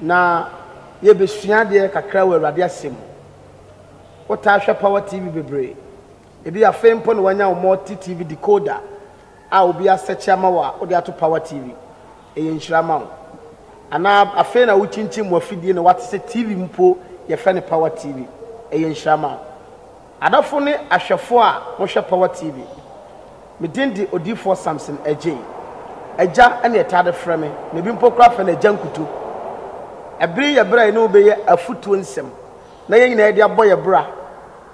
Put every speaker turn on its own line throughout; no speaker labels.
Na yɛbɛsua adeɛ kakra wɔ Awurade Asɛm mu. Wotaa hwɛ Power TV bebree. Ebia afei mpo na woanya wo Multi TV decoder a obi asɛkye ama wo a wode ato Power TV. Ɛyɛ nhyira ma wo. Anaa afei na wokyinkyin w'afidie na woate sɛ TV mpo yɛfrɛ no Power TV. Ɛyɛ nhyira ma wo. Adɔfo ne ahwɛfo a mohwɛ Power TV, me din de Odiyifoɔ Samson Adjei. Agya na yɛtaa de frɛ me, na ebi mpo koraa frɛ no Agya Nkuto. Ɛbere yi yɛ bere a yɛne wo bɛyɛ afotuo nsɛm na yɛn nyinaa de abɔ yɛn bra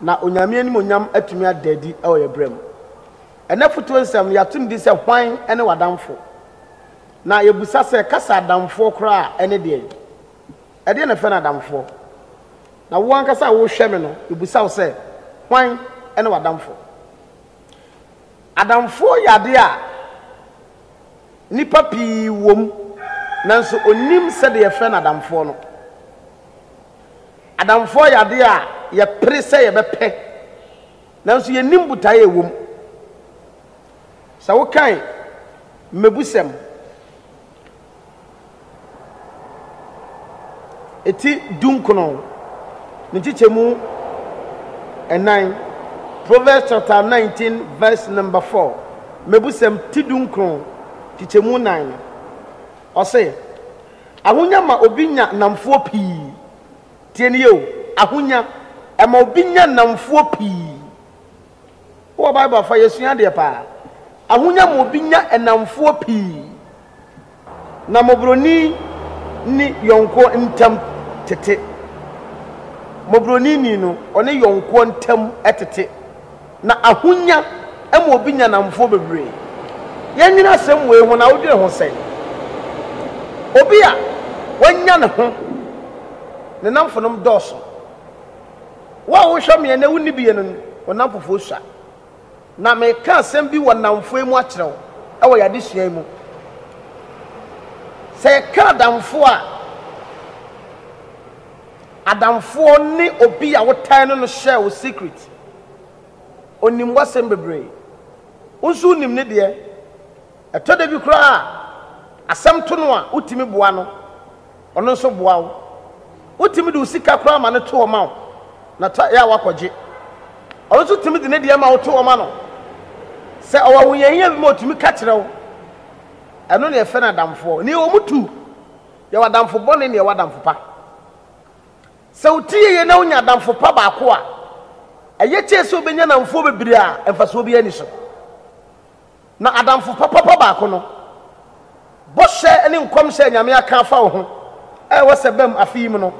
na Onyame animuonyam atumi ada adi wɔ yɛn bra mu. Ɛnnɛ afotuo nsɛm no, yɛato no din sɛ Hwan ne W'adamfo? Na yɛbisa sɛ, Kasa adamfoɔ koraa a, ɛne deɛn? Ɛdeɛn na ɛfrɛ no adamfoɔ? Na wo ankasa a worehwɛ me no, mebisa wo sɛ, hwan ne w'adamfoɔ? Adamfoɔ yɛ adeɛ a nnipa pii wɔ mu, nanso ɔnnim sɛdeɛ yɛfrɛ no adamfoɔ no. Adamfoɔ yɛ adeɛ a yɛpere sɛ yɛbɛpɛ, nanso yɛnnim botaeɛ a ɛwɔ mu. Sɛ wokan mmebusɛm ti dunkron ne nkyekyɛmu nnan, Proverbs chapter 19 verse number 4, mmebusɛm ti dunkron nkyekyɛmu nnan no, ɔse, Ahonya ma obi nya nnamfoɔ pii. Tie no yie o, ahonya, ɛma obi nya nnamfoɔ pii. Wowɔ Bible afa yɛsua adeɛ paa. Ahonya mu obi nya nnamfoɔ pii, na mmɔborɔni ne yɔnkoɔ ntam tete. Mmɔborɔni ni no, ɔne yɔnkoɔ ntam tete, na ahonya ma obi nya nnamfoɔ bebree. Yɛnnwene asɛm wei ho na wodwene ho sɛn? Obi a wanya ne ho, ne nnamfonom dɔɔso. Wo a wohwɛ me ɛnnɛ wonni bi yɛ no wo nnamfofoɔ sua. Na mereka asɛm bi wɔ nnamfoɔ yi mu akyerɛ wo wɔ yɛn adesua yi mu. Sɛ yɛka adamfoɔ a, adamfoɔ ne obi a wotan no no share wo secret. Ɔnim w'asɛm bebree. Wo nso wonim ne deɛ. Ɛtɔ da bi koraa a, asɛm to no a, wutumi boa no, ɔno nso boa wo. Wotumi de wo sika koraa ma no to hɔ ma wo, na ta yɛ a wakɔgye. Ɔno nso tumi de ne deɛ ma wo to hɔ ma no. Sɛ ɔwɔ ahohiahia bi ma ɔtumi ka kyerɛ wo. Ɛno na yɛfrɛ no adamfoɔ. Nea wɔn tu, yɛwɔ adamfo bɔne na yɛwɔ adamfo pa. Sɛ wo ti yeye na wonya adamfo pa baako a, ɛyɛ kyɛn sɛ wobɛnya nnamfoɔ bebree a mfasoɔ biara nni so. Na adamfo papapa baako no, bɔhyɛ ne nkɔmhyɛ a Nyame aka afa wo ho a ɛwɔ sɛ ɛbam afe yi mu no,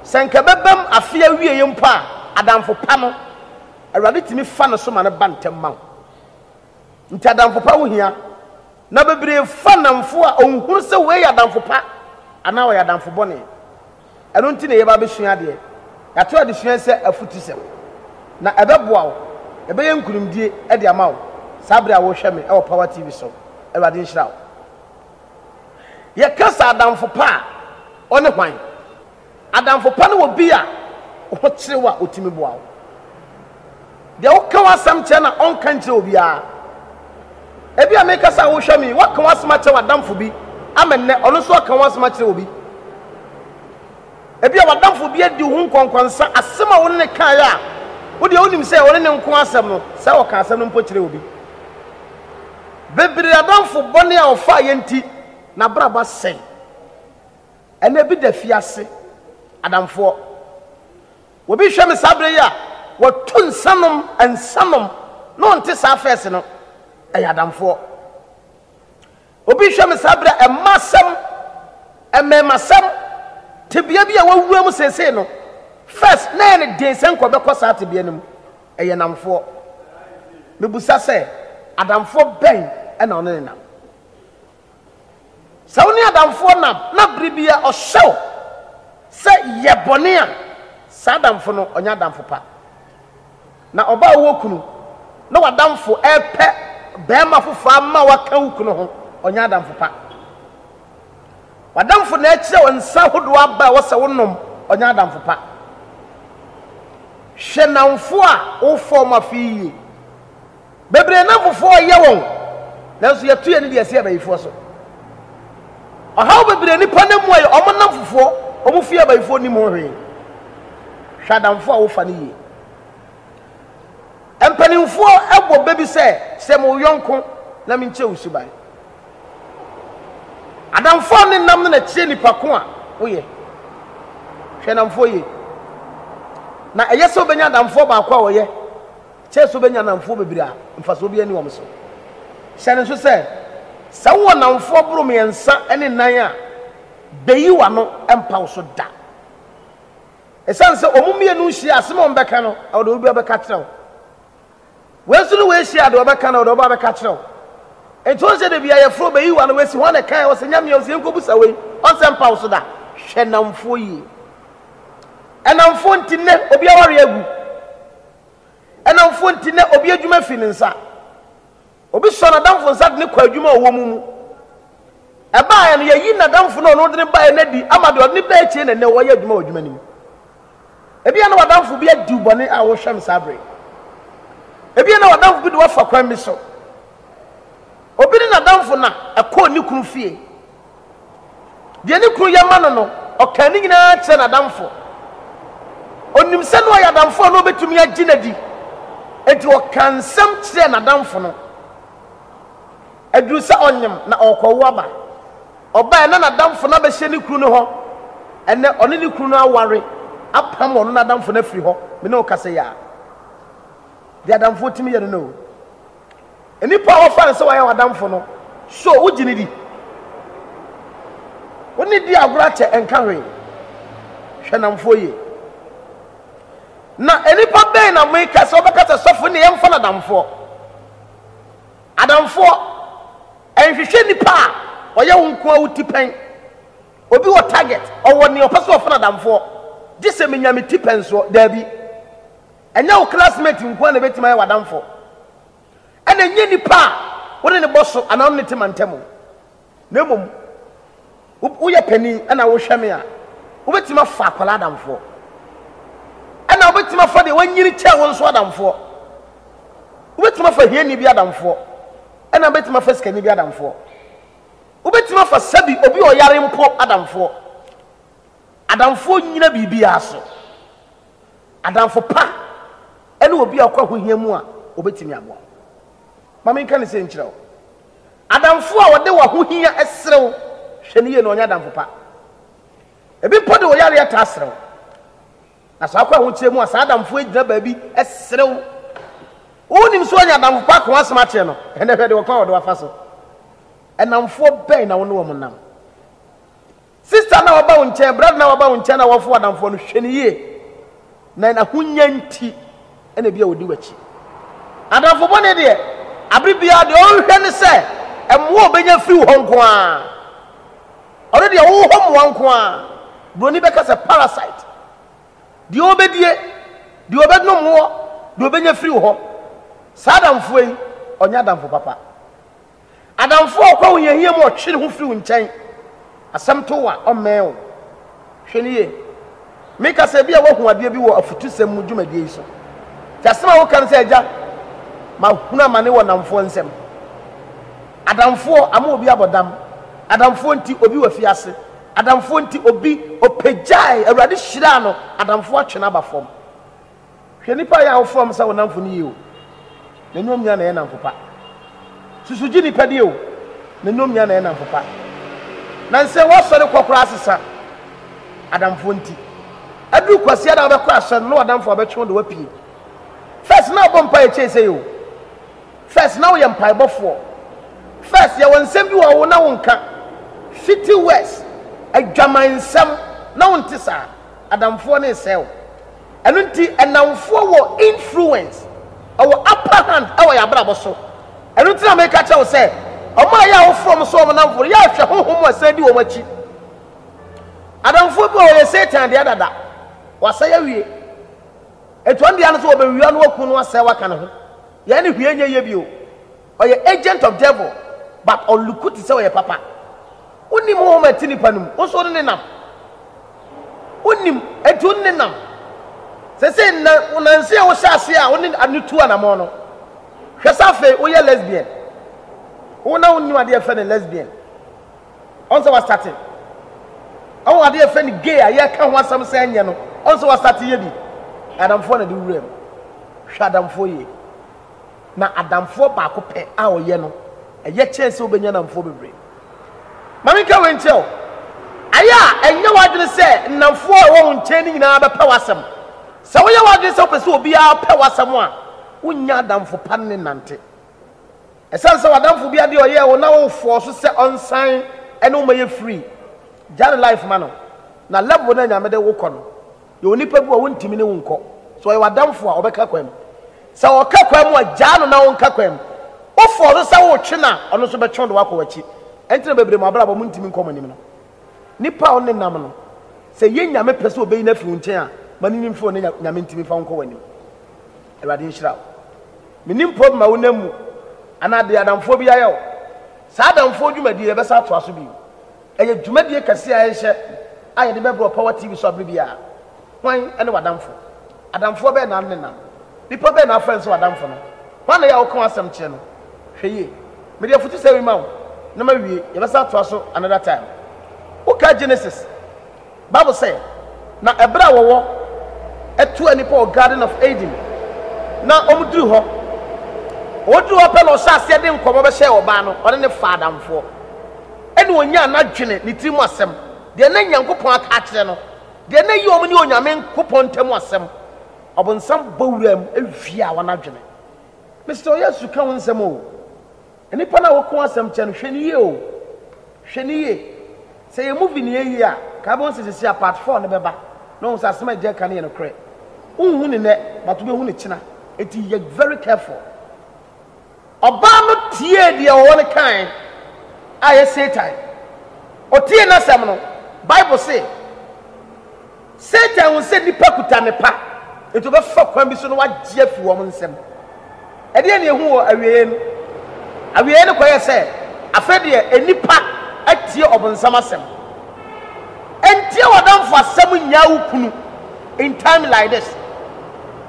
sɛ anka ɛbɛbam afe awieɛ mpo a, adamfo pa no, Awurade tumi fa no so ma no ba ntɛm ma wo. Nti adamfo pa ho hia. Na bebree fa nnamfo a ɔnhunu sɛ wei yɛ adamfo pa anaa ɔyɛ adamfo bɔne. Ɛno nti na yɛreba abɛsua adeɛ. Yɛato adesua yi sɛ afutusɛm, na ɛbɛboa wo, ɛbɛyɛ nkunimdie de ama wo saa berɛ a worehwɛ me wɔ Power TV so. Awurade nhyira wo. Yɛka sɛ adamfo pa a, ɔne hwan? Adamfo pa ne obi a wo ho kyere wo a ɔtumi boa wo. Deɛ woka w'asɛm kyerɛ na ɔnka nkyerɛ obiara. Ebia mekasa a wohwɛ me yi, woaka w'asɛm akyerɛ w'adamfo bi ama nnɛ ɔno nso aka w'asɛm akyerɛ obi. Ebia w'adamfo bi adi wo ho nkɔnkɔnsa, asɛm a wo ne no kaeɛ a wodeɛ wonim sɛ ɔne ne nko asɛm no, sɛ ɔka asɛm no mpo kyerɛ obi. Bebree adamfo bɔne a ɔfaeɛ nti n'abrabɔ asɛe. Ɛnnɛ ebi da afiase, adamfoɔ. Obi hwɛ me saa berɛ yi a, watu nsa nom nsa nom na ɔnte saa fɛs no, ɛyɛ adamfoɔ. Obi hwɛ me saa berɛ a, mma asɛm, mmɛɛma asɛm, tebea bi a wawura mu seesei no, fɛs na ɛyɛ ne den sɛ nkɔ bɛkɔ saa tebea no mu, ɛyɛ namfoɔ. Mebusa sɛ, adamfoɔ bɛn na ɔne ne nam? Sɛ wo ne adamfoɔ nam na bere bi a ɔhyɛ wo sɛ yɛ bɔne a, saa adamfo no ɔnyɛ adamfo pa. Na ɔbaa a ɔwɔ kunu na w'adamfo ɛrepɛ barima foforɔ ama waka wo kunu ho, ɔnyɛ adamfo pa. W'adamfo na ɛkyerɛ wo nsa ahodoɔ aba a ɛwɔ sɛ wonom, ɔnyɛ adamfo pa. Hwɛ nnamfo a wofa wɔn afe yie. Bebree nam fufuo a yɛ wɔn, nanso yɛto yɛn deɛ si abayifoɔ so. Ɔhaw bebree nipa nam mu a yɛ wɔn nam fufuo, wɔn fie abayifoɔ nim ho hwee. Hwɛ adamfo a wofa no yie. Mpanimfoɔ bɔ bɛ bi sɛ, sɛ mo yɔnko na menkyɛ wo suban. Adamfo a ne nam no na kyerɛ nipa ko a woyɛ. Hwɛ namfoɔ yie. Na ɛyɛ sɛ wobɛnya adamfoɔ baako a wɔyɛ Kyerɛ sɛ wobɛnya nnamfoɔ bebree a mfasoɔ biara nni wɔn so. Hyɛ no nso sɛ, sɛ wowɔ nnamfoɔ boro mmiɛnsa ne nnan a, bɛyi w'ano mpa wo so da. Ɛsiane sɛ wɔn mmienu nhyia a, asɛm a wɔbɛka no, ɛwɔ deɛ obi biara bɛka akyerɛ wo. Wei nso ne wei hyia a, deɛ wɔbɛka no, ɛwɔ deɛ ɔbaa bɛka akyerɛ wo. Nti wɔn sɛ da biara yɛfrɛ wo bɛyi w'ano, wɔasi hwan na ɛkae, wɔsɛ nyamea, wɔsɛ yɛnkɔbusa wei, wɔn sɛ mpa wo so da. Hwɛ nnamfoɔ yie. Nnamfoɔ nti nnɛ obi awareɛ agu. Ɛnamfo nti, nnɛ obi adwuma fi ne nsa. Obi sɔ n'adamfo nsa de no kɔ adwuma a ɔwɔ mu mu. Ɛbaeɛ no, yɛayi n'adamfo no a ɔno de no baeɛ no adi ama deɛ ɔde no baeɛ akyire na nnɛ ɔyɛ adwuma wɔ adwuma no mu. Ebia na w'adamfo bi adi wo bɔne a wohwɛ no saa bere. Ebia na w'adamfo bi de wo afa kwan bi so. Obi ne n'adamfo na ɛkɔɔ ne kunu fie. Deɛ ne kunu yɛ ma no no, ɔkaa ne nyinaa kyerɛɛ n'adamfo. Ɔnim sɛ na ɔyɛ adamfo a na ɔbɛtumi agye no adi, enti ɔkaa nsɛm kyerɛɛ n'adamfo no. Ɛduruu sɛ ɔnyem na ɔrekɔwo aba. Ɔbaeɛ na n'adamfo no abɛhyɛ ne kunu no hɔ. Ɛnnɛ, ɔne ne kunu no aware, apam ɔno n'adamfo no afiri hɔ. Me ne wo kasa yi ara. Deɛ adamfoɔ tumi yɛ no no o. Nnipa a wɔfa no sɛ wɔayɛ w'adamfo no, so wugye no di? Wo ne di agorɔ akyɛ nka hwee. Hwɛ nnamfoɔ yie. Na nnipa bɛn na meka sɛ wobɛka sɛ sɔfo ne yɛmfa no adamfoɔ? Adamfoɔ nhwehwɛ nipa a ɔyɛ wo nko a wo ti pɛn. Obi wɔ target, ɔwɔ nea ɔpɛ sɛ ɔfa no adamfoɔ. Gye sɛ menya me ti pɛn soɔ. Daabi. Ɛnyɛ wo classmate nko ara na ebetumi ayɛ w'adamfo, ɛna ɛnyɛ nipa a wo ne no bɔ so anaa wo ne no te mantam, na mmom woyɛ panin ɛna wohwɛ me a, wobetumi afa akwadaa adamfoɔ, ɛna wobetumi afa deɛ wanyini kyɛn wo nso adamfoɔ, wobetumi afa hiani bi adamfoɔ, ɛna wobetumi afa sikani bi adamfoɔ, wobetumi afa sɛbi obi ɔyare mpo adamfoɔ. Adamfoɔ nyina biribiara so. Adamfo pa ne obi a ɔkɔ ahohia mu a obetumi aboa wo. Ma menka no sei nkyerɛ wo, Adamfo a ɔde w'ahohia srɛ wo, hwɛ no yie na ɔnyɛ adamfo pa. Ebi mpo de wo yareɛ taa srɛ wo, na sɛ ɔkɔ ahokyerɛ mu a, saa adamfo yi gyina baabi srɛ wo. Wonim sɛ ɔnyɛ adamfo pa ko asɛm akyerɛ no, ɛnna hwɛ deɛ ɔkwan a ɔde wafa so. Nnamfoɔ bɛn na wo ne wɔn nam? Sister no a waba wo nkyɛn, brother no a waba wo nkyɛn na wɔfo adamfoɔ no, hwɛ no yie. Na n'ahonya nti na ebi a ɔdi w'akyi. Adamfo bɔne deɛ, abere biara deɛ ɔhwehwɛ ne sɛ mmoa a ɔbɛnya firi wo hɔ nko ara. Ɔno deɛ ɔwɔ hɔ mmoa nko ara. Buroni bɛka sɛ parasite. Deɛ ɔbɛdie, deɛ ɔbɛnom woɔ, deɛ ɔbɛnya firi wo hɔ. Saa adamfoɔ yi, ɔnyɛ adamfo papa. Adamfo a ɔkɔ wo hiahia mu a ɔtwe ne ho firi wo nkyɛn. Asɛm to wo a, ɔmmɛn wo. Hwɛ no yie. Meka sɛ ebia woahu adeɛ bi wɔ afutusɛm mu dwumadie yi so. Te asɛm a woka no sɛ, Agya, mahunu amane wɔ nnamfoɔ nsam. Adamfoɔ ama obi abɔ dam. Adamfoɔ nti, obi wɔ afiase. Adamfoɔ nti, obi ɔpagyae, Awurade hyiraa no, adamfoɔ atwe no aba fam. Hwɛ nnipa yɛ a wofrɛ wɔn sɛ wo nnamfo no yie o, na ɛnyɛ wɔn nyinaa na ɛyɛ nnamfo pa. Susu gye nnipa die o, na ɛnyɛ wɔn nyinaa na ɛyɛ nnamfo pa. Nansɛ woasɔre kɔ koraa asesa adamfoɔ nti. Aduru Kwasiada a wobɛkɔ asɔre no na w'adamfo a wɔbɛtwe wo de woapue. First na wobɔ mpaeɛ kyɛn sɛi o. First na woyɛ mpaebɔfoɔ. First yɛwɔ nsɛm bi wɔ hɔ wo na wonka. Fitty words, adwaman nsɛm, na wonte saa. Adamfoɔ no resɛe wo. Ɛno nti nnamfoɔ wɔ influence, ɔwɔ upper hand wɔ yɛn abrabɔ so. Ɛno nti na meka kyerɛ wo sɛ, wɔn a yɛ a wofrɛ wɔn sɛ wɔn nnamfoɔ no, yɛ a hwɛ honhom a ɛsan di wɔn akyi. Adamfoɔ bi wɔ yɛ Satan deɛ dada, wasɛe awie. Ɛtu wɔn deɛ no so wɔbɛwia no, waku no, asɛe, waka ne ho. Yɛn ne hwee nyɛ yie bio. Ɔyɛ agent of devil but ɔluku te sɛ ɔyɛ papa. Wonim honhom a ɛte nipa no mu, wo nso wo ne no nam. Wonim enti wo ne no nam. Sɛsɛ nna wo nanse a wohyɛ aseɛ a wo ne ano tu anamɔn no, hwɛ sɛ afei woyɛ lesbian. Wo na wonim adeɛ yɛfɛ no lesbian. Ɔn sɛ wastate. Ɔn adeɛ yɛfɛ no gay a yɛka ho asɛm sɛ ɛnyɛ no, ɔn sɛ wastate yɛ bi. Adamfoɔ na de wura mu. Hwɛ adamfoɔ yie. na adamfoɔ baako pɛ a ɔyɛ no, ɛyɛ kyɛn sɛ wobɛnya nnamfoɔ bebree. Ma menka wei nkyerɛ wo, Ayɛ a ɛnyɛ w'adwene sɛ nnamfoɔ a ɛwɔ wo nkyɛn no nyinaa bɛpɛ w'asɛm. Sɛ woyɛ w'adwene sɛ wopɛ sɛ obiara pɛ w'asɛm a, wonnya adamfo pa ne no nnante. Ɛsiane sɛ w'adamfo bi adeɛ a ɔyɛɛ wo na wofɔɔ so sɛ ɔnsan ne wo mmɛyɛ free, gya ne life ma no, na level no a Nyame de wo kɔ no, Yɛwɔ nnipa bi a wontumi ne wo nkɔ. Sɛ ɔyɛ w'adamfo a, ɔbɛka kwan mu. Sɛ ɔka kwan mu a, gyaa no na ɔnka kwan mu. Wo fɔɔso sɛ wotwe no a, ɔno nso bɛtwe wo de woakɔ w'akyi. Ɛnti na bebree mo abrabɔ mu ntumi nkɔ mo anim no. Nnipa a wo ne nam no, sɛ ɛyɛ Nyame pɛ sɛ ɔbɛyi no afiri wo nkyɛn a, ma no nyi mfiri hɔ na Nyame ntumi mfa wo nkɔ w'anim. Awurade nhyira wo. Mennim problem a wo nam mu anaa deɛ adamfoɔ bi ayɛ wo. Saa adamfoɔ dwumadie yɛbɛsan atoa so bio. Ɛyɛ dwumadie kɛseɛ a yɛrehyɛ a yɛde bɛbrɛ Power TV so abere biara. Hwan ne w'adamfo? Adamfoɔ bɛn na wonenam? Nnipa bɛn na wofrɛ no sɛ w'adamfo no? Hwan na ɛyɛ a woka wɔn asɛm kyerɛ no? Hwɛ yie. Mede afutusɛm yi ma wo na mawie, yɛbɛsan atoa so another time. Wokae Genesis? Bible sɛ, Na ɛberɛ a wɔwɔ atuaa nnipa wɔ Garden of Eden, na wɔduru hɔ, wɔduru hɔ pɛ na ɔhyɛ aseɛ de nkɔmmɔ bɛhyɛɛ ɔbaa no, ɔne ne faa adamfoɔ, ɛne ɔnyaa n'adwene, ne tiri mu asɛm, deɛ na Nyankopɔn aka akyerɛ no, deɛ na ɛyi wɔn ne Onyame Nkopɔn ntam asɛm. Ɔbonsam bɔ wuraa mu wiaa wɔn adwene. Mister Oyesu ka ho nsɛm o. Nnipa no a wɔko asɛm kyɛ no, hwɛ no yie o! Hwɛ no yie! Sɛ yɛn movie no yɛ yie a, nka wobɛhu sɛ seesei a part four no bɛba na woahu sɛ asɛm a agya reka no yɛ nokorɛ. Wonhu no nnɛ, but wobɛhu no kyena. Enti yɛ very careful. Ɔbaa no tiee deɛ ɔwɔ no kae a ɛyɛ Satan. Ɔtiee n'asɛm no, Bible se. Satan hu sɛ nnipa kuta nnepa, enti ɔbɛfa kwan bi so na wagye afi wɔn nsam. Ɛdeɛn na yɛhu wɔ awieeɛ no? Awieeɛ no kɔyɛ sɛ afei deɛ nnipa atie ɔbonsam asɛm. Ntie w'adamfo asɛm nnyaa wo kunu in time like this.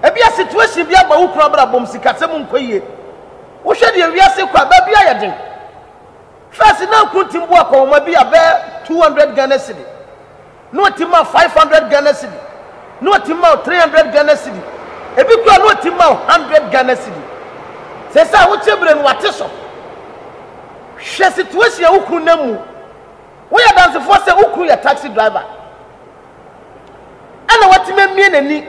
Ebia situation bi aba wo kunu abrabɔm, sikasɛm nkɔ yie. Wohwɛ deɛ wiase rekɔ a, baabi ayɛ den. First na kunu tumi bu akɔnhoma bi a bɛyɛ 200 Ghana cedi. na ɔtim ma wo five hundred Ghana cedi, na ɔtim ma wo three hundred Ghana cedi, ebi koraa na ɔtim ma wo hundred Ghana cedi. Seesei a wote bere no, wate so. Hwɛ situation a wo kunu nam mu. Woyɛ adansefoɔ sɛ wo kunu yɛ taxi driver. Ɛna watumi amie n'ani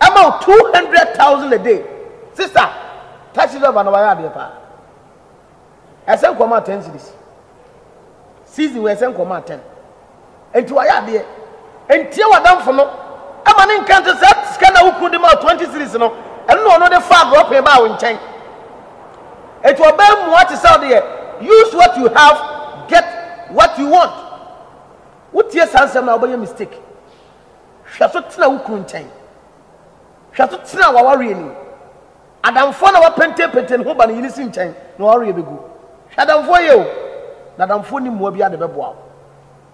ama wo two hundred thousand a day. Sister, taxi driver na wayɛ adeɛ paa. Ɛsɛ nkɔmɔ atɛn series. Season wɔ ɛsɛ nkɔmɔ atɛn. Nti wayɛ adeɛ. Ntie w'adamfo no. Ɛma ne nka nte saa sika na wokunu de ma 20 series no. Ɛno na ɔno de fa agorɔpee baa wo nkyɛn. Nti ɔbɛn mua te sɛ ɔde yɛ use what you have get what you want. Wotie saa nsɛm na wobɛyɛ mistake. Hwɛ so tena wo kunu nkyɛn. Hwɛ so tena w'awareɛ nim. Adamfoɔ na wapentenpenten ne ho ba ne yere si nkyɛn na ɔreɛ bɛgu. Hwɛ adamfoɔ yie o, na adamfoɔ nni mmoa biara de bɛboa wo.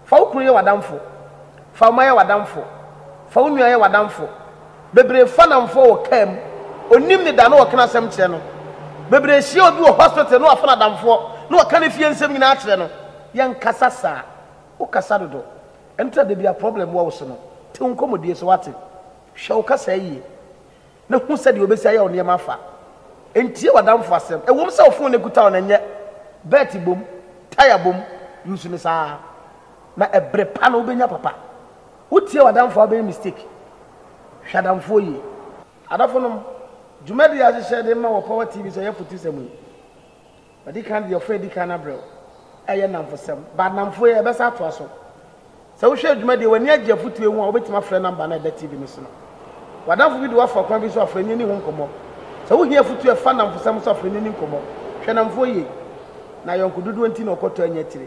Fa wo kunu yɛ w'adamfo, fa wo mma yɛ w'adamfo, fa wo nua yɛ w'adamfo. Bebree fa nnamfoɔ wɔ kaa mu, ɔnim ne da na ɔka n'asɛm kyerɛ no. Bebree hyia obi wɔ hospital na wafa no adamfoɔ na waka ne fie nsɛm nyinaa akyerɛ no. Yɛnkasa saa. Wokasa dodo. Ɛno nti na da biara problem wɔ wo so no, te wo nkɔmmɔdie so, woate? Hwɛ wo kasaa yie. na hu sɛdeɛ wobɛsi ayɛ wo nneɛma afa. Ntie w'adamfo asɛm. Ɛwom sɛ wo fon no akuta wo no, ɛnyɛ. Bɛɛte bom, taya bom, use no saa ara, na ɛberɛ pa no wobɛnya papa. Wotie w'adamfo a, wobɛyɛ mistake. Hwɛ adamfoɔ yie. Adɔfonom, dwumadie a yɛahyehyɛ de ma wɔ Power TV so ɛyɛ fotusɛm yi. Ɔde kan deɛ ɔfrɛ di kan no abrɛ wo. Ɛyɛ nnamfosɛm, but nnamfo yi ɛbɛsan atoa so. Sɛ wohwɛ adwuma deɛ w'ani agye afotuo yi ho a, wobɛtumi afrɛ number no a ɛda TV no so no. W'adamfo bi de wo afa ɔkwan bi so a, fa ani ni ho nkɔmmɔ. Sɛ wohia afotuo a ɛfa nnamfosɛm so a, fa ani ni nkɔmmɔ. Hwɛ nnamfoɔ yie. Na ayɔnkododoɔ nti na ɔkɔtɔ anya tire.